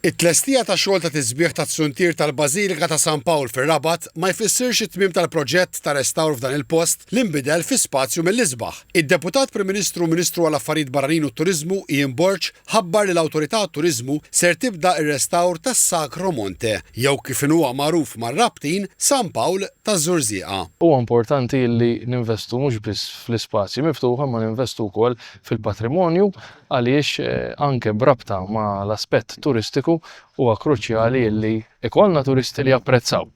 It-tlestija ta' xogħol ta' tisbiħ tat-tsuntier tal-Bażilika ta' San Pawl fir-Rabat ma jfissirx it-tmiem tal-proġett ta' restawr f'dan il-post li nbidel fi spazju mill-isbaħ. Id-Deputat Prim Ministru u Ministru għall-Affarijiet Barranin u t-Turiżmu Ian Borg ħabbar li l-Awtorità għat-Turiżmu ser tibda r-restawr tas-Sacro Monte, jew kif inhu magħruf mar-Rabtin, San Pawl taż-Żurżieqa. Huwa importanti li ninvestu mhux biss fl-ispazji miftuħa imma ninvestu wkoll fil-patrimonju. għaliex anke b'rabta ma' l-aspett turistiku huwa kruċjali illi ikollna turisti li japprezzaw,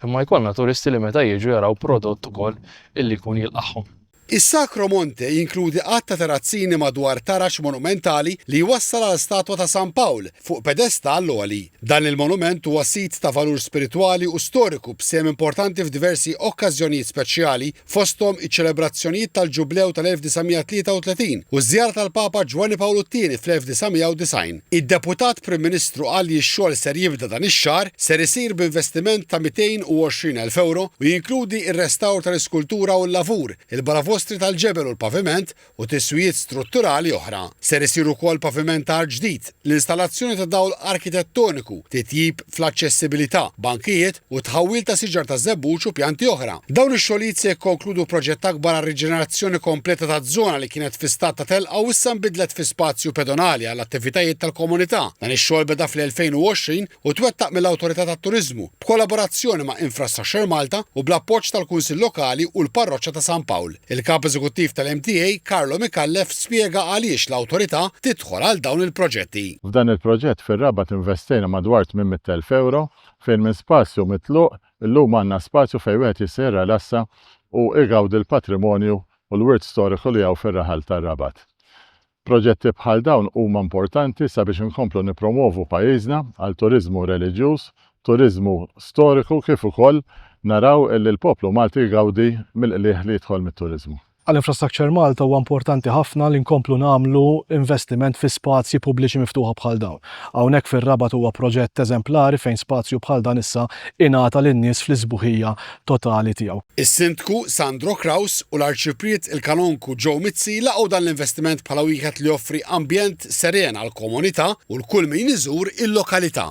imma jkollna turisti li meta jiġu jaraw prodott ukoll illi jkun jilqagħhom. Is-Sacro Monte jinkludi għadd ta' terrazzini madwar taraġ monumentali li jwassal għal statwa ta' San Pawl fuq pedestall għoli. Dan il-monument huwa sit ta' valur spiritwali u storiku b'sehem importanti f'diversi okkażjonijiet speċjali, fosthom iċ-ċelebrazzjonijiet tal-Ġublew tal-1933 u ż-żjara tal-Papa Ġwanni Pawlu t-Tieni fl-1990. Id-Deputat Prim Ministru qal li x-xogħol ser jibda dan ix-xahar, ser isir b'investiment ta' 220 elf ewro u jinkludi r-restawr tal-iskultura u l-lavur, il-balavostri tal-ġebel u l-paviment u tiswijiet strutturali oħra. Ser isir ukoll pavimentar ġdid, l-installazzjoni ta' dawl arkitettoniku, titjib fl-aċċessibilità, bankijiet u t-tħawwil ta' siġar taż-żebbuġ u pjanti oħra. Dawn ix-xogħlijiet se jikkonkludu proġett akbar għar-riġenerazzjoni kompleta ta' żona li kienet fi stat ta' telqa u issa nbidlet fi spazju pedonali għall-attivitajiet tal-komunità. Dan ix-xogħol beda fl-2020 u twettaq mill-Awtorità tat-Turiżmu, b'kollaborazzjoni ma' Infrastructure Malta u bl-appoġġ tal-Kunsill Lokali u l-Parroċċa ta' San Pawl. Il-Kap Eżekuttiv tal-MTA, Carlo Micallef spjega għaliex l-Awtorità tidħol għal dawn il-proġetti. F'dan il-proġett fir-Rabat investejna madwar 800 elf ewro fejn minn spazju mitluq illum għandna spazju fejn wieħed jista' jirrelassa u igawdi l-patrimonju u l-wirt storiku li hawn fir-raħal tar-Rabat. Proġetti bħal dawn huma importanti sabiex inkomplu nippromwovu pajjiżna għal turiżmu reliġjuż, turiżmu storiku kif ukoll naraw li l-poplu Malti jgawdi mill-qligħ li jidħol mit-turiżmu. Għal Infrastructure Malta huwa importanti ħafna li nkomplu nagħmlu investiment fi spazji pubbliċi miftuħa bħal dawn. Hawnhekk fir-Rabat huwa proġett eżemplari fejn spazju bħal dan issa ingħata lin-nies fl-isbuħija totali tiegħu. Is-Sindku Sandro Kraus u l-Arċipriet il-Kanonku Joe Mizzi laqgħu dan l-investiment bħala wieħed li joffri ambjent seren għall-komunità u l kull min iżur il-lokalità.